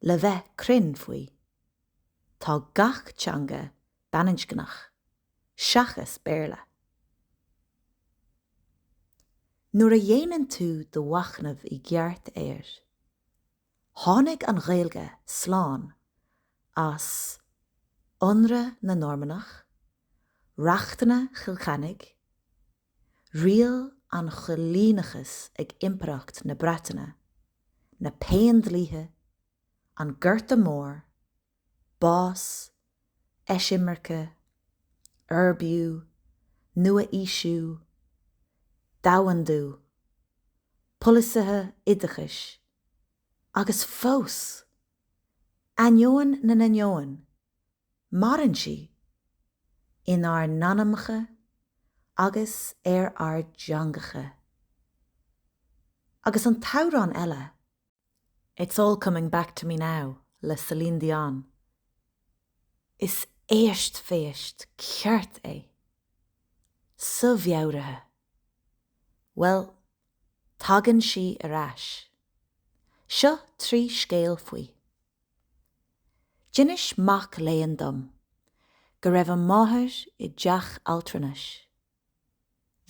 Le bheith cruinn faoi, tá gach teanga baininscneach seachas Béarla. Nuair a dhéanann tú do mhachnamh i gceart air, tháinig an Ghaeilge slán as ionradh na Normannach, Reachtanna Chill Chainnigh, riail an choilíneachais ag Impireacht na Breataine, na Péindlíthe, an Gorta Mór, bás, eisimirce, uirbiú, nua-aoisiú, domhandú, polasaithe oideachais, agus fós! Ainneoin na n-ainneoin, Maireann sí inár n-anamacha agus ar ár dteangacha. Agus an t-amhrán eile, It's All Coming Back to Me Now le Celine Dion, is éistphéist cheart é sa mheabhair. Bhuel, tagann sí ar ais. Seo trí scéal faoi. D'inis mac léinn dom go raibh a máthair i dteach altranais.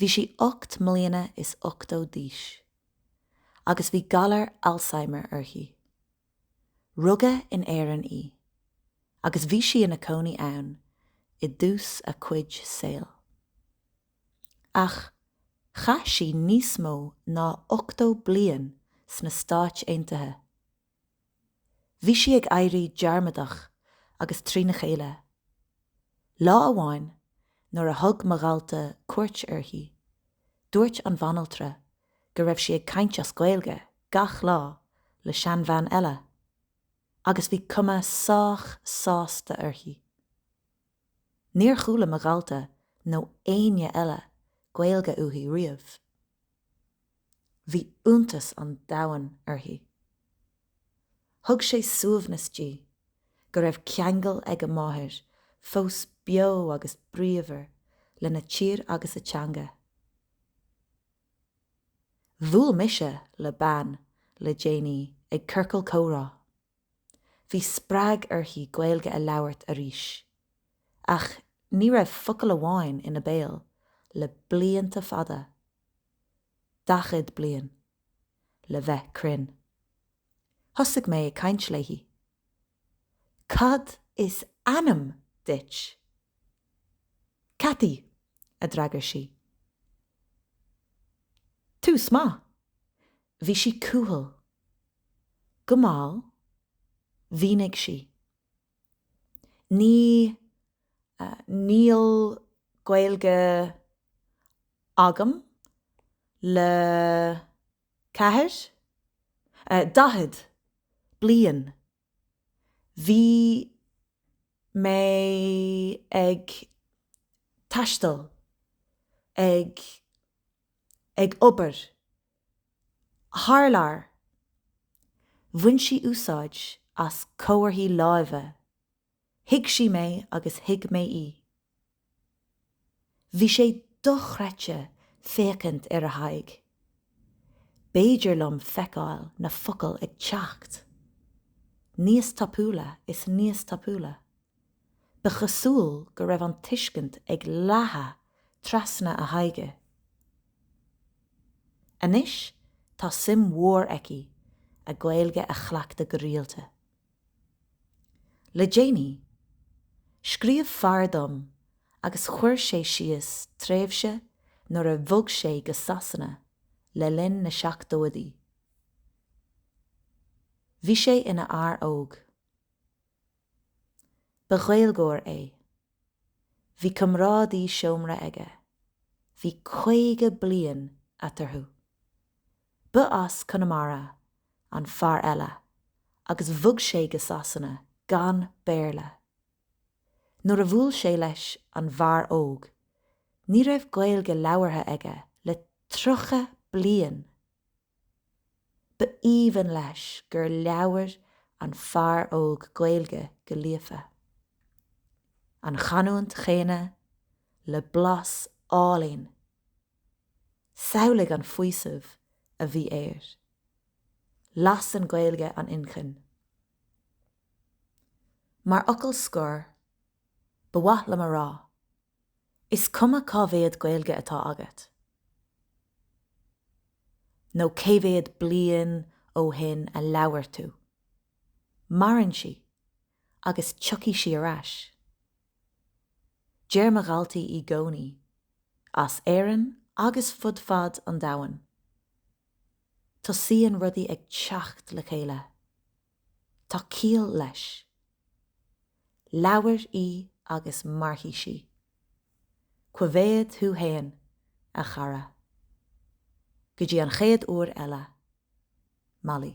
Bhí sí ocht mbliana is ochtó d'aois agus bhí galar Alzheimer uirthi. Rugadh in Éirinn í agus bhí sí ina cónaí ann i dtús a cuid saoil. Ach chaith sí níos mó ná ochtó bliain sna Stáit Aontaithe. Bhí sí ag éirí dearmadach agus trína chéile. Lá amháin nuair a thug mo dhalta cuairt uirthi, dúirt an bhanaltra go raibh sí ag caint as Gaeilge gach lá le seanbhean eile agus bhí cuma sách sásta uirthi. Níor chuala mo dhalta nó éinne eile Gaeilge uaithi riamh. Bhí iontas an domhain uirthi. Thug sé suaimhneas di go raibh ceangal ag a máthair fós beo agus bríomhar lena tír agus a teanga. Bhuail mise le bean le déanaí ag ciorcal comhrá. Bhí spreag uirthi Gaeilge a labhairt arís. Ach ní raibh focal amháin ina béal le blianta fada. Dachad bliain, le bheith cruinn. Thosaigh mé ag caint léi. Cad is ainm duit? Cathy, a d'fhreagair sí. Tús maith. Bhí sí cúthail. go mall, mhínigh sí. Ní, níl Gaeilge agam le ceathair, daichead bliain. Bhí mé ag taisteal, ag, ag obair. Thar lear, bhain sí úsáid as comharthaí láimhe. Thuig sí mé agus thuig mé í. Bhí sé dochreidte féachaint ar a haghaidh. B'fhéidir liom feiceáil na focail ag teacht níos tapúla is níos tapúla Ba chosúil go raibh an tuiscint ag leathadh trasna a haghaidhe. Anois tá suim mhór aici a Gaeilge a chleachtadh go rialta. Le déanaí, scríobh fear dom agus chuir sé síos tréimhse nuair a bhog sé go Sasana le linn na seachtóidí. Bhí sé ina fhear óg. Ba Ghaeilgeoir é. Bhí comrádaí seomra aige. Bhí caoga bliain eatarthu. Ba as Conamara an fear eile agus bhog sé go Sasana gan Béarla. Nuair a bhuail sé leis an bhfear óg, ní raibh Gaeilge labhartha aige le tríocha bliain! Ba aoibhinn leis gur labhair an fear óg Gaeilge go líofa. An chanúint chéanna, le blas álainn. Samhlaigh an faoiseamh a bhí air. Lasann Gaeilge an inchinn. Mar fhocal scoir, ba mhaith liom a rá, is cuma cá mhéad Gaeilge atá agat, nó cé mhéad bliain ó shin a labhair tú? Maireann sí agus tiocfaidh sí ar ais. Deir mo dhaltaí í gcónaí, as Éirinn agus fud fad an domhain, Tosaíonn rudaí ag teacht le chéile. Tá ciall leis. Labhair í agus mairfidh sí. Coimhéad thú fhéin, a chara. Go dtí an chéad uair eile. Molly.